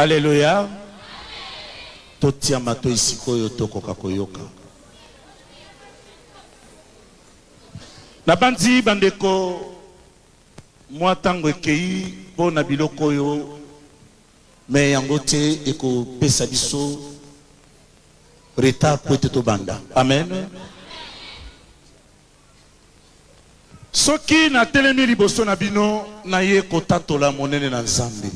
Alléluia. Totia matoi sikoyo tokoka koyoka. Nabanzi bandeko mwa ntango ekei mpo na biloko oyo me yango te ekopesa biso Retard puete to banda. Amen. Soki na telemi liboso na bino na ye kotatola monene na Nzambe.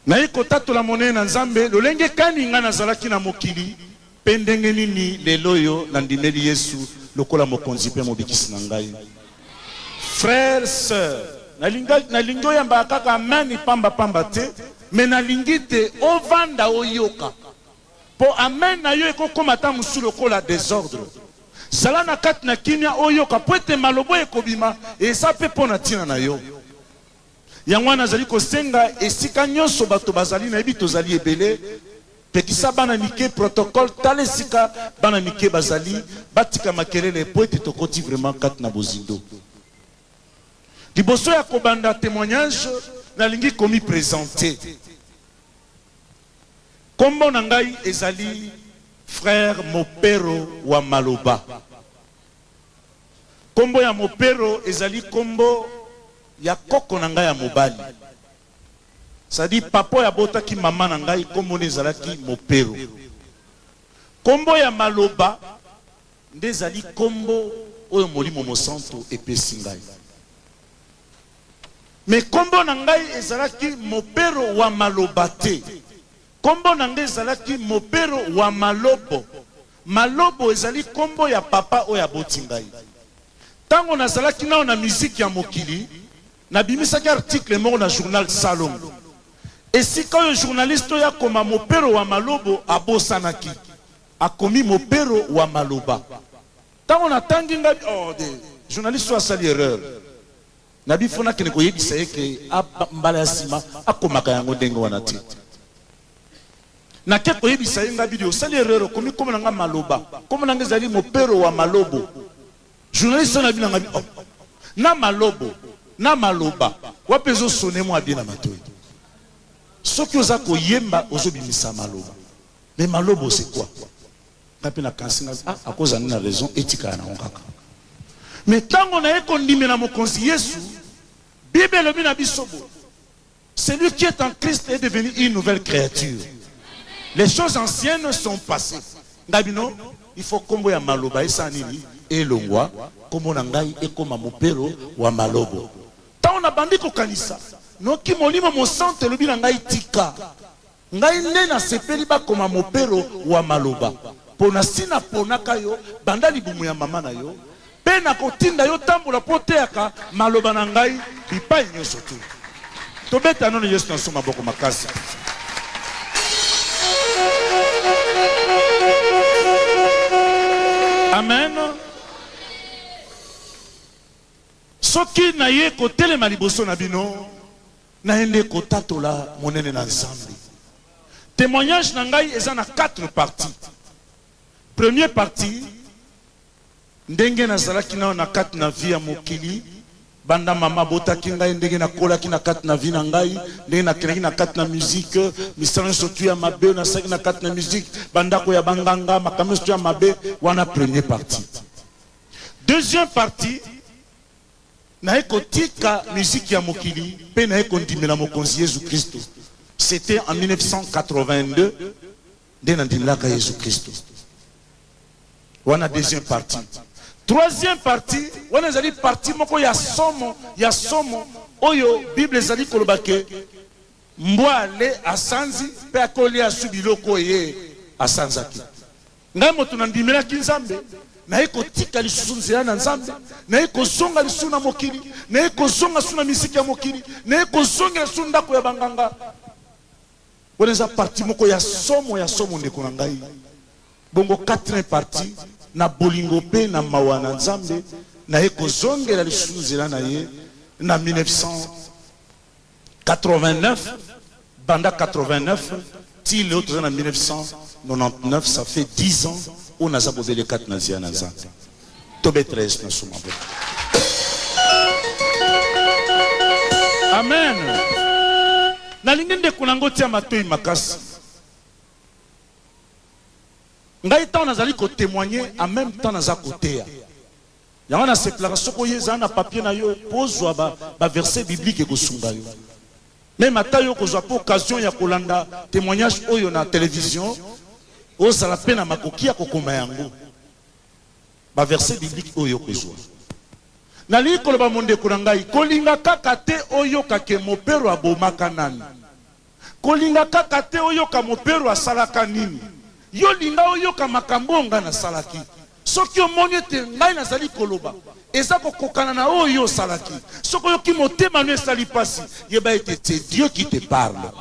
Na ye kotatola monene na Nzambe lolenge kani nga nazalaki na mokili. Mpe ndenge nini lelo oyo nandimeli Yesu lokola Mokonzi mpe Mobikisi na ngai? Frère, sœur, nalinga, nalingi oyambaka kaka amen pamba pamba te, mais nalingi te ovanda oyoka, mpo amen na yo ekokoma ata mosusu lokola desordre. Zala na kati na kimia oyoka, mpo ete maloba oyo ekobima eza mpe mpo na ntina na yo. Yango wana nazali kosenga esika nyonso bato bazali, nayebi tozali ebele, pekisa bana mike protocole, tala esika bana mike bazali, batika makelele mpo ete tokoti vraiment kati na bozindo. Liboso ya kobanda temoignage, nalingi komi presenter. Kombo na ngai ezali frère Mopero wa Maloba. Kombo ya Mopero ezali kombo ya koko na ngai ya mobali. Ça dit papa oyo abotaki mama na ngai kombo ne ezalaki Mopero. Kombo ya maloba nde ezali kombo oyo Molimo Mosantu epesi ngai. Mais kombo na ngai ezalaki Mopero wa maloba te. Kombo na ngai ezalaki Mopero wa malobo. Malobo ezali kombo ya papa oyo aboti ngai. Tango nazalaki nano na miziki ya mokili, nabimisaki article moko na journal Salongo. Esika oyo journaliste oyo akoma Mopero wa Malobo abosanaki, akomi Mopero wa Maloba. Tango natangi ngai, oh! Journaliste oyo asali erreur. Na bi faut nakende koyebisa ye que mbala ya sima akomaka yango ndenge wana te. Nake koyebisa ye Ngabidi osali erreur okomi kombo na nga Maloba. Kombo na nga ezali Mopero wa Malobo. Journaliste wana abina Ngabidi oh, na Malobo na Maloba wapi ezo sonner mwa bien na matoyi. Soki oza koyemba ozo bimisa Maloba. Mais Malobo c'est quoi? Nga pe na kansi nga ah ako zala nde na raison etika ya nango kaka. Mais tango naye ko ndimela mokonzi yesu bible elobi na biso boye celui qui est en Christ est devenu une nouvelle creature les choses anciennes sont passee nga bino il faut kombo ya maloba esala nini elongwa kombo na ngai ekoma mopero wa malobo tango na bandi ko kanisa noki molimo mosantu elobi na ngai tika Ngai nde nasepeli bakoma mopero wa maloba, mpo nasi naponaka yo banda libumu ya mama na yo, mpe nakotinda yo otambola mpo oteyaka maloba na ngai bipai nyonso tuu. Tobeta nanu Yesu na nse maboko makasi mpenza. Amen. Soki naye kotelema liboso na bino. naye nde kotatola monene na nzambe temoignage na ngai eza na 4 partie premier partie ndenge nazalaki nao na kati na vie ya mokili banda mama abotaki ngai ndenge nakolaki na kati na vie na ngai ndenge nakendaki na kati na mizike misala nyonso tu ya mabe nasalaki na kati na mizike bandako ya banganga makambo nyonso tu ya mabe wana premier partie deuxième partie Naye kotika musique ya mokili pe naye kondimela mokonzi yezu christu c'etait en 1982 nde na ndimlaka yezu christu wana deuxième partie troisième partie wana ezali partie moko ya somo ya somo oyo bible ezali koloba ke mbwa ale asanzi pe akolia su biloko eye asanzaki Ngai moto na ndimelaki Nzambe, naye kotika lisusu nzela na Nzambe, naye kozonga lisusu na mokili, naye kozonga lisusu na miziki ya mokili, naye kozongela lisusu ndako ya banganga. Wana eza parti moko ya somo ya somo, ndeko na ngai. Bongo quatrième parti, na bolingo pe na mawa na Nzambe, naye kozongela lisusu nzela na ye na 1900. 89 banda 89 ti leo toza na 1999 ça fait 10 ans oyo naza bobele kati na nzela na nzambe tobetela yesu na suma bo amen nalingi ndeko nango tia matoi makasi ngai ntango nazali kotemoigne en même temps naza koteya Yango na sepelaka soki oye zala na papier na yo po ozua ba ba verset biblique ekosunga yo. Meme ata yo kozua pe occasion ya kolanda temoignage oyo na television ozala pe na makoki ya kokoma yango. Ba verset biblique oyo okozua. Nalingi koloba mondeko na ngai kolinga kaka te oyoka ke mopero abomaka nani. Kolinga kaka te oyoka mopero asalaka nini. Yo linga oyoka makambo oyo ngai nasalaki. Soki omoni ete ngai nazali koloba eza kokokana na oyo yo osalaki, soki oyoki motema no esali mpasi, yeba ete c'est Dieu qui te parle.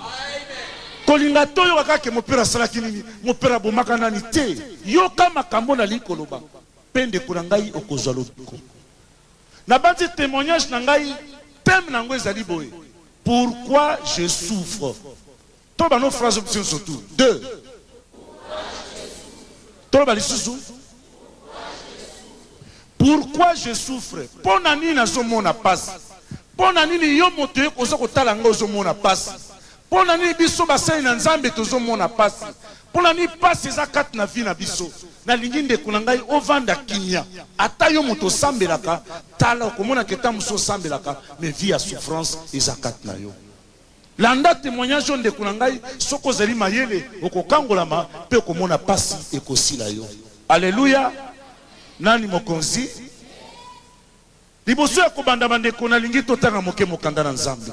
Kolinga te oyoka kaka ke mopero asalaki nini, mopero abomaka nani. Te, yoka makambo oyo nalingi koloba, mpe ndeko na ngai okozwa lobiko. Na bandi temoignage na ngai, thème na yango ezali boye, Pourquoi je souffre? Toloba no phrase oyo nionso tout deux. Toloba lisusu. Pourquoi je souffre? Mpo na nini nazomona pasi? Mpo na nini yo moto oza kotala ngai ozomona pasi? Mpo na nini biso basali na Nzambe tozo mona pasi? Mpo na nini pasi eza kati na vie na biso? Na lingi ndeko na ngai ovanda kimia. Ata yo moto osambelaka, tala okomona ke tango mosusu osambelaka mais vie ya souffrance eza kati na yo. Landa temoignage oyo ndeko na ngai, soki ozali mayele okokangolama mpe okomona pasi ekosila yo. Alleluia! Nani mokonzi? Liboso ya kobanda bandeko, na lingi totanga moke mokanda na Nzambe.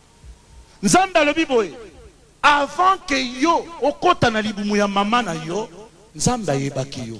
Nzambe alobi boye, Avant que yo okota na libumu ya mama na yo, Nzambe ayebaki yo.